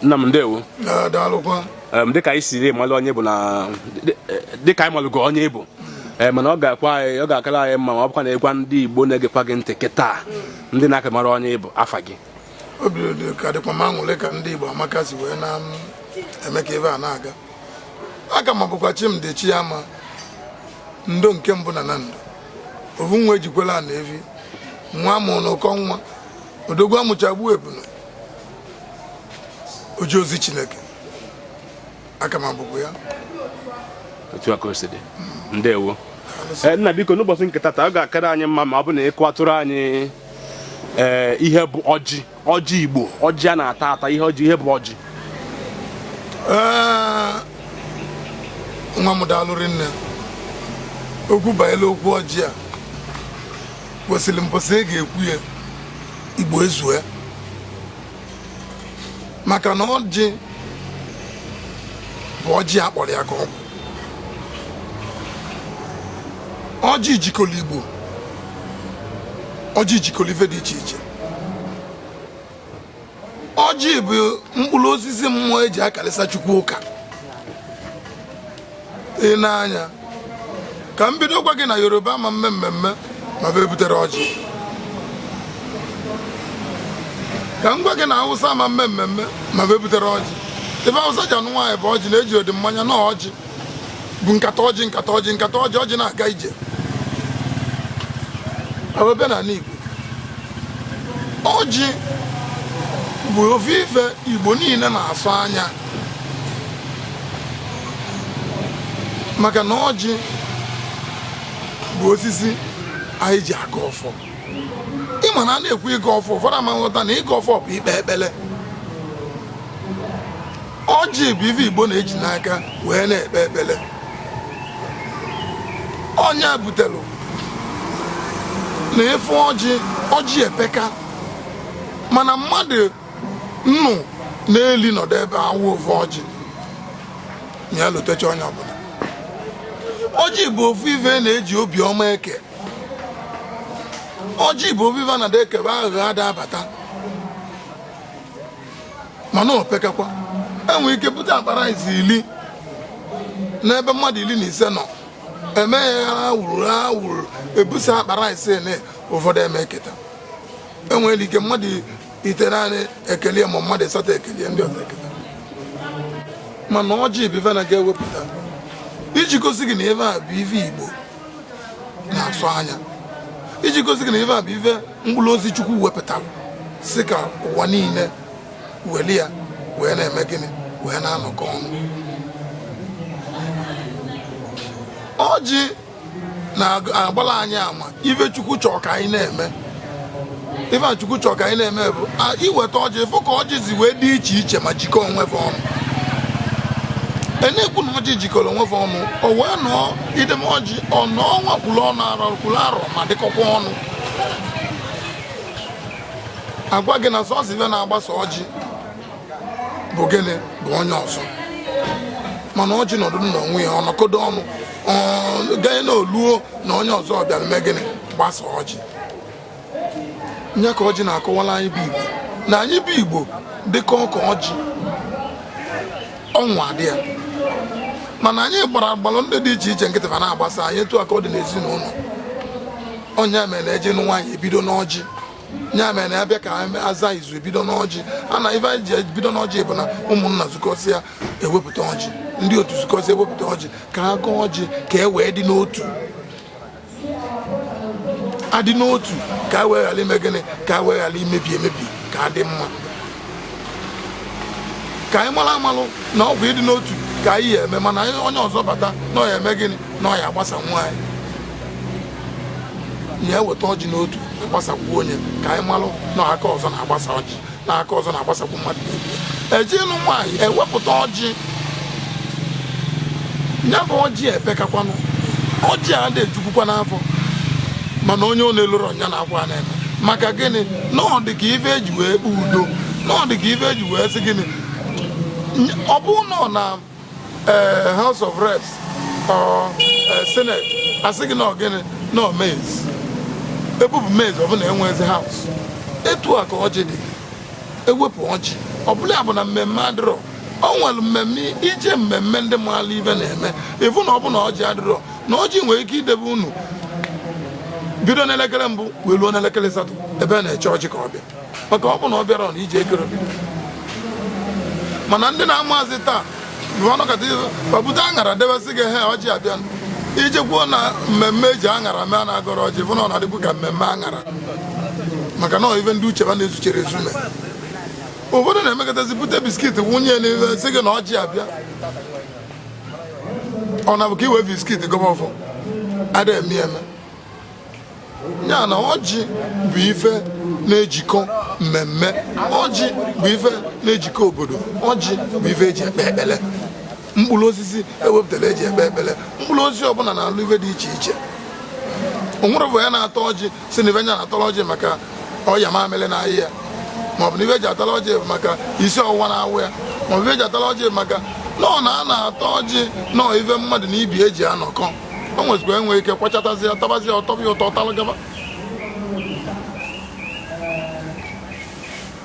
nna m ndewo dịka anyị siri malụ onye bụ na dịka anyị malụgo onye ị bụ ee mana ọ ga-akwa anyị ọ ga-akara anyị mma ma ọ bụkwa na ị gwa ndị Igbo na-egekwa gị ntị kịta ndị na-aka amarọ onye ị bụ afa gị obi dị ka dịkwa m aṅụrị ka ndị Igbo amaka si wee na-eme ka ife a na-aga aka m abụkwa Chimdi Chiama ndo nke mbụ na Nando ovu nwa ejikwela na evi nwa mụrụ na ụkọ nwa odogwu amụcha gbuo ebunu oje ozi Chineke aka m abụkwa ya otu a ka o si dị ndewo Eh, nna biko n'ụbọchị nke tata ọ ga-akara anyị mma ma ọ bụ na ị kọwatụrụ anyị eh, ihe bụ ọjị ọjị igbo ọjị a na-ata ata ihe ọjị ihe bụ ọjị Ee, nwa m daalụ rinne okwu banyere okwu ọjị a kwesịrị mbọsị e ga-ekwu ya igbo ezue maka na ọjị bụ ọjị a kpọrọ ya ka ọ bụ ọjị jikọrọ igbo ọjị jikọrọ ife dị iche iche ọjị bụ mkpụrụ osisi mmụọ eji akarịsa chukwu ụka i nee anya ka m bido gwa gị na yoruba ama mme mmemme ma bụ ebuterọ ọjị ka m gwa gị na awụsa ama mme mmemme ma bụ ebuterọ ọjị ife awụsa ji anụ nwaanyị bụ ọjị na ejirọdị mmanya na ọjị bụ nkata ọjị nkata ọjị nkata ọjị ọjị na-aga ije ebe ọbụna n'ala Igbo ọjị bụ ofu ife Igbo niile na-asọ anya maka na ọjị bụ osisi anyị ji agọ ọfọ ị ma na a na-ekwu ịgọ ọfọ ụfọdụ ama nghọta na ịgọ ọfọ bụ ikpe ekpere ọjị bụ ife igbo na-eji n'aka wee na-ekpe ekpere onye butere na ịfụ ọjị ọjị epeka mana mmadụ nnụ na-eli nọdụ ebe a waa ofu ọjị ya elutecha onye ọbụla ọjị bụ ofu ife na-eji obiọma eke ọjị bụ ofu ife na a da-ekebe aghụghọ ada abata mana o pekakwa enwere ike bute akpa rice ili n'ebe mmadụ iri na ise nọ emeghara wuruwuru ebusa akpa rice na ụfọdụ ama eketa enwere ike mmadụ itenanị ekele ma mmadụ ịsatọ ekele ndị ọzọ eketa mana ọjị bụ ife na ga-ewepụta iji gosi gị na ife a bụ ife igbo na-asọ anya iji gosi gị na ife a bụ ife mkpụrụ ozi chukwu wepụtara sị ka ụwa niile weli ya wee na-eme gịnị wee na-anọkọ ọnụ ọjị na-agbala anyị ama ife chukwu chọrọ ka anyị na-eme ife chukwu chọrọ ka anyị na-eme bụ iweta ọjị ịfụ ka ọjị si wee dị iche iche ma jikọọ onwe fa ọnụ e na-ekwu na ọjị jikọrọ onwe fa ọnụ ọ bụ na idebe ọjị ọ nọọ ọnwa kwuru ọnwa arọ kwuru arọ ma dịkọkwa ọnụ agwa gị na sọsọ ife na-agbasa ọjị bụ gịnị bụ onye ọzọ mana ọjị nọdụ na onwe ya ọ nọkọdo ọnụ ganye na o luo na onye ọzọ bịara mee gịnị gbasa ọjị ya ka ọjị na-akọwala anyị bụ igbo na anyị bụ igbo dịkọ ka ọjị nwa dị ya mana anyị gbara agbalụ ndị dị iche iche nkịtị ma na-agbasa anyị etu a ka ọ dị n'ezinụlọ ọ ya mere na eje ịnụ nwaanyị ebido n'ọjị ya mere na abịa ka aza izu ebido n'ọjị a na ife anyị ji ebido n'ọjị bụ na ụmụnna zukọsịa ewepụta ọjị ndị otu zukọsịa ewepụta ọjị ka a gọọ ọjị ka e wee dị n'otu adị n'otu ka a wee ghara ime gịnị ka a wee ghara imebi emebi ka adị mma ka anyị mara amalụ na ọ bụ ịdị n'otu ka anyị ya eme mana onye ọzọ bata na ọ ya eme gịnị na ọ ya agbasakwa anyị ya eweta ọjị n'otu agbasakwuo ya ka anyị malụ na aka ọzọ na-agbasa ọjị na aka ọzọ na-agbasakwu mmadụ eje ịlụ nwaanyị ewepụta ọjị ya bụ ọjị epekakwanụ ọjị adị ejukwukwa n'afọ mana onye ọ na-elurọ ọ ya na-akwa na-eme maka gịnị na ọ dị ka ife eji wee kpee udo na ọ dị ka ife eji wee sị gịnị ọ bụrụ na ọ na eh, House of Reps or eh, Senate asị gị na ọ gịnị na mace ebupụ mace ọ bụlụ na enwezi house etu a ka ọjị dị ewepụ ọjị ọbụla bụ na mmemme adịrọ ọ nwere mmemme ije mmemme ndị maala ife na-eme ịfụ na ọ bụlụ na ọjị adịrọ na ọjị nwere ike idebe unu bido n'elekere mbụ wee ruo n'elekere asatọ ebe a na-eche ọjị ka ọ bịa maka ọ bụ na ọ bịarọ na ije akarọ bido mana ndị na-emezi taa ọ nọkata o bute aṅara debe sị gị he ọjị abịa iji kwuo na mmemme eji aṅara mee na-agọrọ ọjị bụ na ọ na-adịbu ka mmemme aṅara maka na ife ndị uche ha na-ezucharọ ezu n'ime obodo na-emekatazi bute biskit wụnye n'ife sị gị na ọjị abịa ọ na-abụ ka iwe biskit gọba ọfọ ada eme eme ya na ọjị bụ ife na-ejikọ mmemme ọjị bụ ife na-ejikọ obodo ọjị bụ ife eji ekpe ekpele mkpụrụ osisi ewepụtara eji ekpe ekpele mkpụrụ osisi ọbụla na-alụ ife dị iche iche onwere bụ ya na-ata ọjị sị na ife nya na-atara ọjị maka ọya mamịrị na-aya ya maọbụ na ife eji atara ọjị bụ maka isi ọwụwa na-awa ya maọbụ ife eji atara ọjị bụ maka na ọ na-ana ata ọjị no ife mmadụ na ibe eji anọkọ o nwezikwa enwe ike kwachatazi ya tabazi ya ọ tọba ụtọ ọ talụ gaba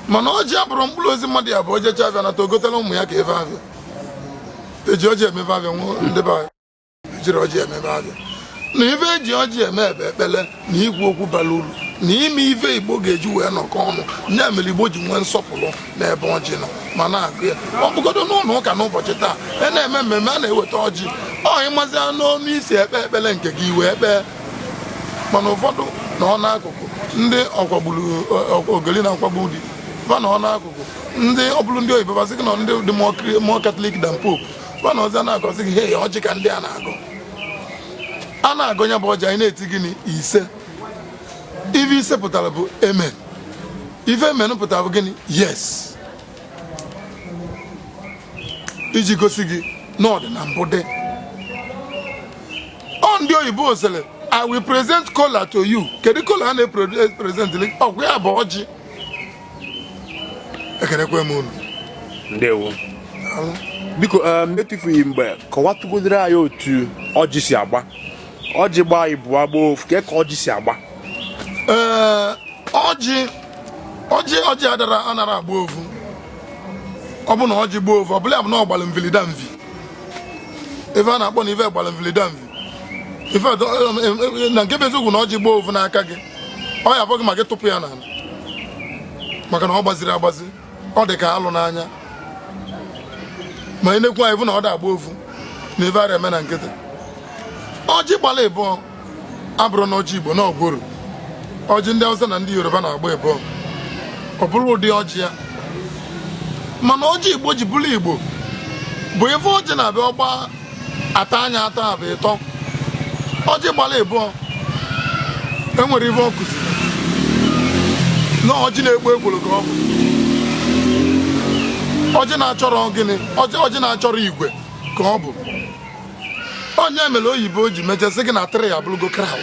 mana ọjị abụrọ mkpụrụ osisi mmadụ ya-abụ o jechaa afịa nata o gotelụ ụmụ ya ka ife afịa eji ọjị eme ife afịa no ndị be anyị ejirọ ọjị eme ife afịa na ife eji ọjị eme bụ ekpele na ikwu okwu bara uru na ime ife igbo ga-eji wee nọkọ ọnụ ya mere igbo ji nwee nsọpụrụ n'ebe ọjị nọ ma na-agọ ya ọ bụgodo n'ụlọ ụka n'ụbọchị taa a na-eme mmemme a na-eweta ọjị ọ ị mazia n'ọnụ i si ekpe ekpere nke gị i wee kpee mana ụfọdụ nọ n'akụkụ ndị ọkwagburu ogeli na-akwagbu di ba nọ n'akụkụ ndị ọ bụrụ ndị oyibo ga-asị gị na ndị dị more Catholic than Pope ba na ọzọ na-agọzi gị he ọjị ka ndị a na-agọ a na-agọ ya bụ ọjị anyị na-eti gịnị ise ife ise pụtara bụ amen ife amen pụtara bụ gịnị yes iji gosi gị na ọ dị na mbụ dị ọ ndị oyibo sịrị i will present kola to you kedu kola a na-epresent ọ bụ ya bụ ọjị ekenekwe m unu ndewo biko um, etufughị mgbe kọwatụgodiri anyị otu ọjị si agba ọjị gba ịbụa gba ofu kee ka ọjị si agba ee ọjị ọjị ọjị adara anara agba ofu ọ bụ na ọjị gba ofu ọ bụlụ ya bụ na ọ gbara mvilida mvi ife a na-akpọ na ife gbara mvilida mvi ife na nke bụ eziokwu na ọjị gbaa ovu n'aka gị ọ ya afọ gị ma gị tụpụ ya n'ala maka na ọ gbazirọ agbazi ọ dị ka alụ n'anya ma ị na-ekwu anyị bụ na ọ da-agba ovu na ife ara eme na nkịtị ọjị gbala ịbụọ abụrọ na ọjị igbo na ọ gworo ọjị ndị Hausa na ndị Yoruba na-agba ịbụọ ọ bụrụ ụdị ọjị ya mana ọjị igbo ji bụrụ igbo bụ ife ọjị na ibe ọ gba atọ nya atọ a bụ ịtọ ọjị gbara ịbụọ enwere ife ọ kụziri na ọjị na-akpọ gworo ka ọ bụ ọjị na-achọrọ gịnị ọjị ọjị na-achọrọ igwe ka ọ bụ nya mere oyibo ji mechaa sị gị na three abụrụgo crowd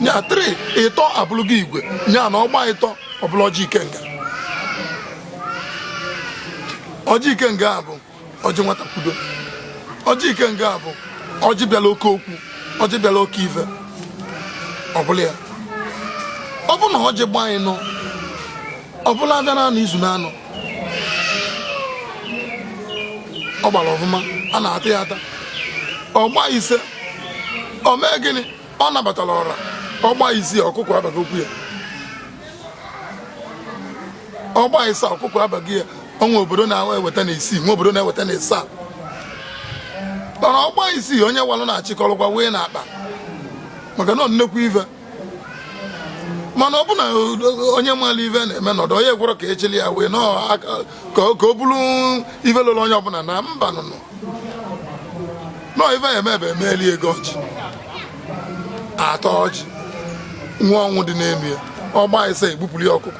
nya three ịtọ abụrụgo igwe nya na ọ gba ịtọ ọ bụlụ ọjị ikenga ọjị ikenga a bụ ọjị wata kwudo ọjị ikenga bụ ọjị bịala oke okwu ọjị bịala oke ife ọbụla ya ọ bụ na ọjị gba ịnọ ọ bụlụ afịa na anọ izu na anọ ọ gbara ọfụma a na-ata ya ata ọ gba ise ọ mee gịnị ọ nabatara ọra ọ gba isii ọkụkọ abata okwu ya ọ gba ịsa ọkụkọ abaghị ya ọ nwe obodo na-eweta na isii nwe obodo na-eweta na ịsa mana ọ gba isii onye walụ na-achịkọrọkwa wee na akpa maka na nnekwu ive mana ọ bụ na onye maalụ ive na-eme nọdụ onye gwọrọ ka echili ya wee ka ọ bụrụ ive lụrụ onye ọbụla na mba nụnụ nọ ife ya emebe emeli ego ọjị atọ ọjị nwe ọṅụ dị n'ime ya ọ gba ise e gbupụrụ ya ọkụkọ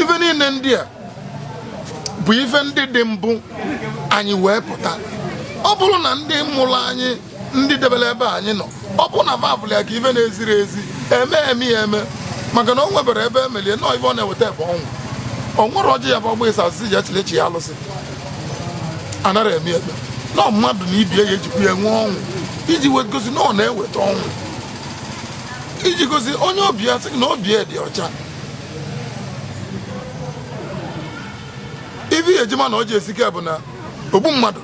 ife niile ndị a bụ ife ndị dị mbụ anyị wee pụta ọ bụrụ na ndị mụrụ anyị ndị debere ebe anyị nọ ọ bụ na fa fụlụ ya ka ife na-eziri ezi eme eme ya eme maka na o nwebere ebe emelie nọọ ife ọ na-eweta ebe ọṅụ ọ nwere ọjị ya bụ ọ gba ịsa asị ji echilechi ya alụsị anara eme ebe nọ mmadụ na ibe ya ejikwu ya nwee ọṅụ iji gosi na ọ na-eweta ọṅụ iji gosi onye obi ya sị na obi ya dị ọcha ife e ji ma na ọjị esike bụ na ogbu mmadụ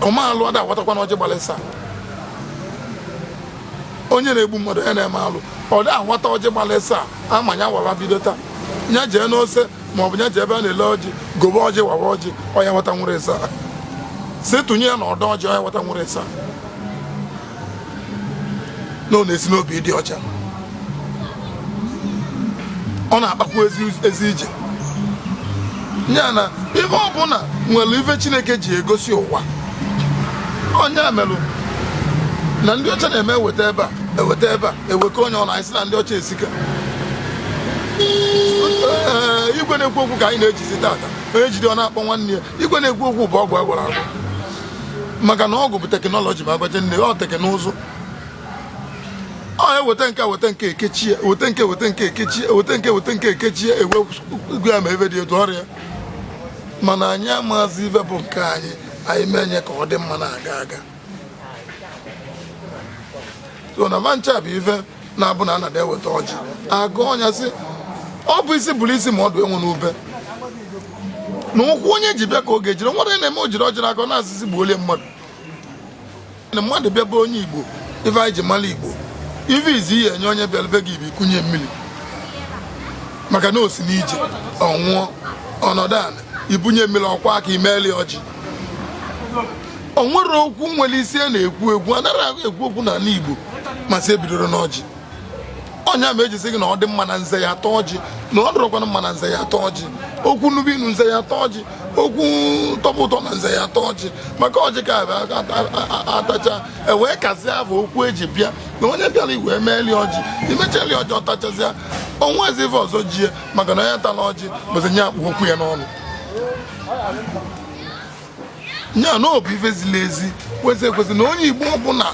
ome alụ ada awatakwana ọjị gbalụ ịsa onye na-egbu mmadụ onye na-eme alụ ọ da awata ọjị gbalụ ịsa ama ya wara bido taa ya jee n'ose ma ọ bụ ya jee ebe a na-ele ọjị gobe ọjị wawa ọjị ọ ya-awata nwere ịsa si tụnye ya na ọdọ ọjị ọ ya-awata nwere ịsa na ọ na-esi n'obi dị ọcha ọ na-akpakwa ezi ije ya na ihe ọbụla nwere ife chineke ji egosi ụwa ya mere na ndị ọcha na-eme eweta ebe a eweta ebe a ewekọ onye ọ na-asị na ndị ọcha esika igwe na-ekwu okwu ka anyị na-ejizi tata onye jide ọ na-akpọ nwanne ya igwe na-ekwu okwu bụ ọgwụ a gwọrọ agwọ maka na ọgwụ bụ technology bụ agbaje nne ọ teknụzụ ọ na-eweta nke weta nke ekechie weta nke weta nke ekechie ewe ugwu ya ma ebe dị etu ọrịa mana anyị amazi ife bụ nke anyị anyị mee nye ka ọ dị mma na-aga aga ọ na fa ncha bụ ife na-abụ na anada eweta ọjị agọ onye sị ọ bụ isi bụrụ isi ma ọdụ enwe n'ube na ụkwụ onye ji bịa ka ọ ga-ejiri were na-eme o jiri ọjị n'aka ọ na-asịsị gbuo olie mmadụ na mmadụ bịa be onye igbo ife anyị ji mara igbo ife izi ihe enye onye bịara be gị ị bịa kunye mmiri maka na o si n'ije ọ ṅụọ ọ nọdụ ala i bunye mmiri ọ kwọọ aka i meeli ọjị o nwere okwu nwere isi a na-ekwu ekwu anaghị ekwu okwu n'ala Igbo ma sị ebidoro n'ọjị ọ ya mere e ji sị gị na ọ dị mma na nze ya ata ọjị na ọ dịrọkwana mma na nze ya ata ọjị okwu nuba inu nze ya ata ọjị okwu tọba ụtọ na nze ya ata ọjị maka ọjị ka a tachaa e wee kazie afọ okwu eji bịa na onye bịara ị ga-emeeli ọjị i mechali ọjị ọ tachazịa o nwee ezi ife ọzọ jie maka na onye tala ọjị bụzi onye a kpụ okwu ya n'ọnụ ya na ọ bụ ife ziri ezi kwesị ekwesị na onye igbo ọbụla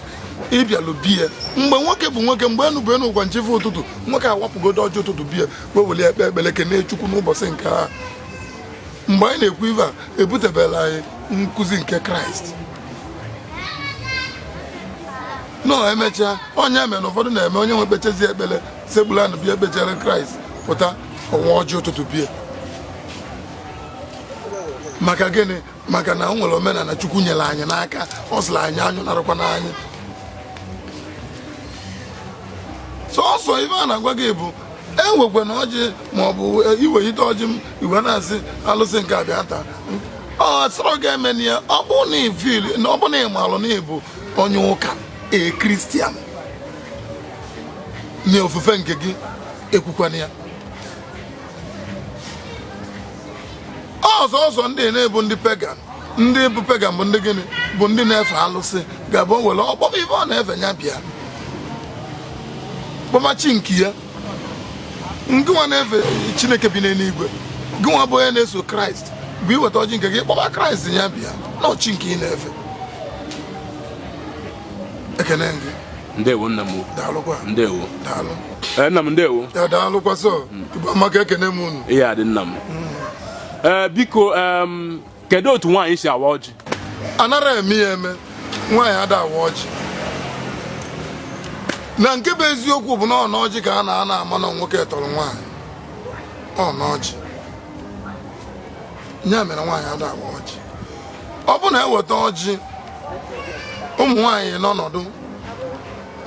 ị bịalụ be ya mgbe nwoke bụ nwoke mgbe enu bụ enu ụgwa na chi fo ụtụtụ nwoke awapụgodo ọjị ụtụtụ be ya wee weli ekpe ekpere kene chukwu n'ụbọchị nke a mgbe anyị na-ekwu ive a ebutebela anyị nkụzi nke kraịst na emechaa onye mere na ụfọdụ na-eme onye nwe ekpechezi ekpere sekpulu ana bịa ekpechere kraịst pụta ọ waa ọjị ụtụtụ be ya maka gịnị maka na o nwere omenala chukwu nyere anyị n'aka ọ sịrị anyị anyụ narakwa n'anyị sọsọ ife a na-agwa gị bụ ewekwana ọjị ma ọ bụ iwelite ọjị ị wee na-asị alụsị nke a bịa taa ọ sịrọ gị emena ya ọ bụ na ị feel na ọ bụ na ị malụ na ị bụ onye ụka a christian na ofufe nke gị ekwukwana ya ọzọ ọzọ ndị na-abụ ndị pagan ndị bụ pagan bụ ndị gịnị bụ ndị na-efe alụsị ga-abụ o were ọ kpọọ ife ọ na-efe ya bịa kpọọ ma chi nke ya ngịnwa na-efe chineke bi n'eluigwe gịnwa bụ onye na-eso kraịst bụ ị weta ọjị nke gị kpọba kraịst ya bịa na ọ chi nke ị na-efe ekene gị ndewo nna m daalụkwa ndewo daalụ ee nna m ndewo ya daalụkwa sọ igbo amaka ekene m unu ihe adị nna m ee biko em, kedu otu nwaanyị si awa ọjị anarọ eme ya eme nwaanyị ada awa ọjị na nke bụ eziokwu bụ na ọ n'ọjị ka a na-anọ ama na nwoke tọrọ nwaanyị ọ n'ọjị ya mere nwaanyị ada awa ọjị ọ bụ na eweta ọjị ụmụ nwaanyị nọ ọnọdụ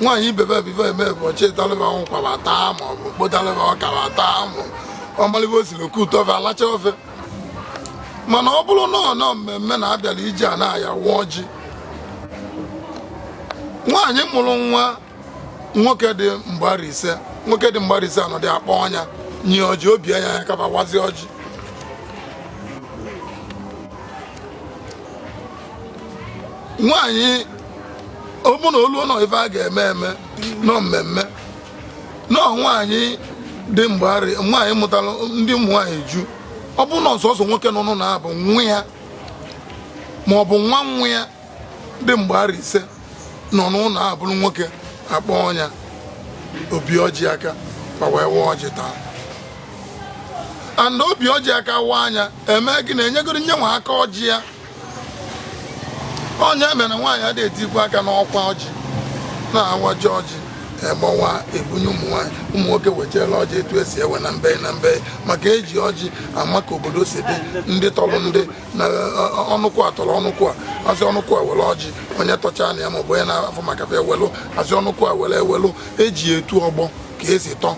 nwaanyị ibebe bive eme bụ ọ chịtalị ba ụkwa ba taa ma ọ bụ kpotalị ba ọka ba taa ma ọ malị ive o siri o kute ofe alacha ofe mana ọ bụrụ na ọ nọ mmemme na abịala iji a na-aya awa ọjị nwaanyị mụrụ nwa nwoke dị mgbe arọ ise nwoke dị mgbe arọ ise anọdụ a kpọọ nya nye ọjị o bie nya aka ba wazie ọjị nwaanyị ọ bụ na olu nọ ife a ga-eme eme nọ mmemme nọ nwaanyị dị mgbagharị nwaanyị mụtara ndị ụmụ nwaanyị ju ọ bụ na ọ sọsọ nwoke nọ n'ụlọ ahụ bụ nwa ya ma ọ bụ nwa nwa ya dị mgbe arọ ise nọ n'ụlọ a bụrụ nwoke a kpọọ nya o bie ọjị aka ba wee waa ọjị taa and o bie ọjị aka wa nya eme gị na enyegoro nye nwa aka ọjị ya ọ nya mere na nwaanyị ada etikwa aka n'ọkwa ọjị na-awaji ọjị egbawa ebunye ụmụ nwaanyị ụmụ nwoke wetara ọjị etu esi ewe na mbe na mbe maka eji ọjị ama ka obodo si dị ndị tọrọ ndị na ọnụkwụ a tọrọ ọnụkwụ a a sị ọnụkwụ a were ọjị onye tọcha na ya maọbụ onye na-afụ maka fa ewelụ a sị ọnụkwụ a were ewelụ eji etu ọgbọ ka esi tọ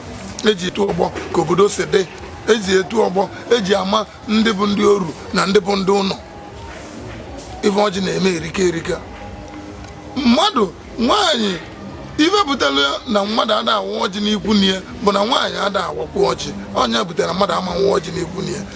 eji etu ọgbọ ka obodo si dị eji etu ọgbọ eji ama ndị bụ ndị oru na ndị bụ ndị ụlọ ife ọjị na-eme erika erika mmadụ nwaanyị ife butere na mmadụ ada awa ọjị n'ikwu nne ya bụ na nwaanyị ada awakwu ọjị ọ nya butere na mmadụ ama awa ọjị n'ikwu nne ya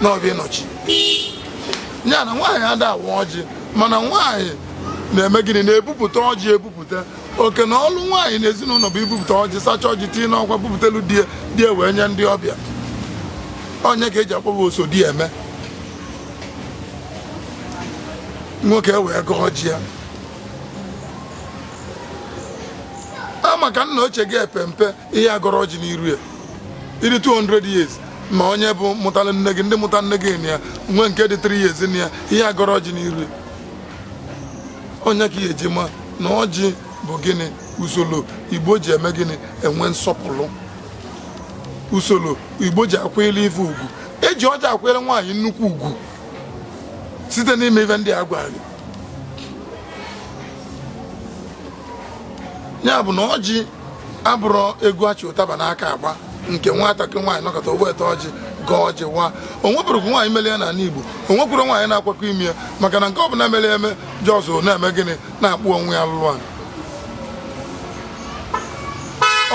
n'obi nna ochie ya na nwaanyị ada awa ọjị mana nwaanyị na-eme gịnị na-ebupụta ọjị ebupụta oke na ọlụ nwaanyị na ezinụlọ bụ ibupụta ọjị sacha ọjị tinye n'ọkwa bupụtelu di ya di ya wee nye ndị ọbịa ọ nya ka eji akpọ ba osodieme nwoke wee gọọ ọjị a maka nna ochie gị epempe ị ya-agọrọ ọjị n'iru ya ị dị 200 years ma onye bụ mụtara nne gị ndị mụtara nne gị na ya nwe nke dị 3 years na ya ị ya-agọrọ ọjị n'iru ya ọ nya ka ị ya-eji ma na ọjị bụ gịnị usoro igbo ji eme gịnị enwe nsọpụrụ usoro igbo ji akwanyere ife ugwu eji ọjị akwanyere nwaanyị nnukwu ugwu site n'ime ife ndị a gwara gị ya bụ na ọjị abụrọ egwu a chị ụtaba n'aka agba nke nwatakịrị nwaanyị nọkata o bute ọjị gọọ ọjị wa o nweburọkwu nwaanyị mere ya n'ala Igbo o nwekwurọ nwaanyị na-akwakọ ime ya maka na nke ọ bụla mere eme just na-eme gịnị na-akpụ onwe ya iru ala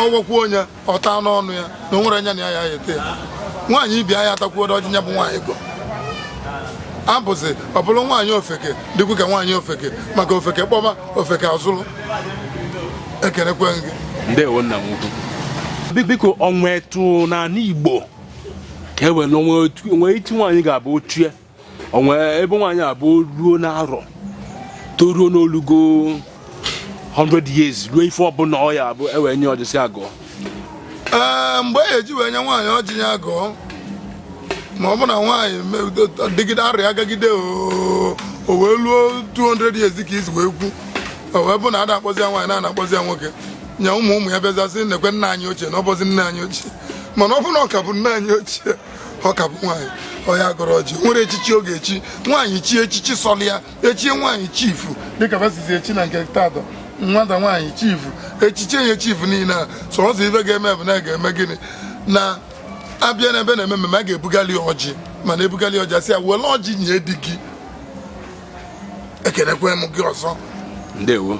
ọ wakwuo nya ọ taa n'ọnụ ya na o nwerọ onye na ya ya-ata ya nwaanyị ibe nya atakwuo ọjị ya bụ nwaanyị gọ abụzi ọ bụrụ nwaanyị ofeke dịkwu ka nwaanyị ofeke maka ofeke kpọba ofeke azụlụ ekenekwe gị ndewo nna m ukwu Bi- biko o nwe etu n'ala igbo ka e were o nwe otu- o nwe etu nwaanyị ga-abụ ochie o nwe ebe nwaanyị abụ ruo n'arọ toruo na o lugo 100 years ruo ife ọbụla ọ ya abụ e wee nye ọjị sị ya gọọ ee mgbe e eji wee nye nwaanyị ọjị ya gọọ ma ọ bụ na nwaanyị dịgide arọ ya agagide o wee luo 200 years ka i si wee kwu o wee bụ na a da akpọzi ya nwaanyị na a na-akpọzi ya nwoke nya ụmụ ụmụ ya bịazịa sị nekwe nna anyị ochie na ọ bụzi nna anyị ochie mana ọ bụ na ọ ka bụ nne anyị ochie ọ ka bụ nwaanyị ọ ya gọrọ ọjị o nwere echichi ọ ga-echi nwaanyị chie echichi sọlị ya e chie nwaanyị chief dịka va sizi echi na nke tata nwata nwaanyị chief e chie ya chief niile a sọsọ ife ga-eme bụ na ga-eme gịnị na a bịa na ebe a na-eme mmemme a ga-ebugali ọjị mana e bugali ọjị a sị ya were ọjị nye di gị ekenekwe m gị ọzọ ndewo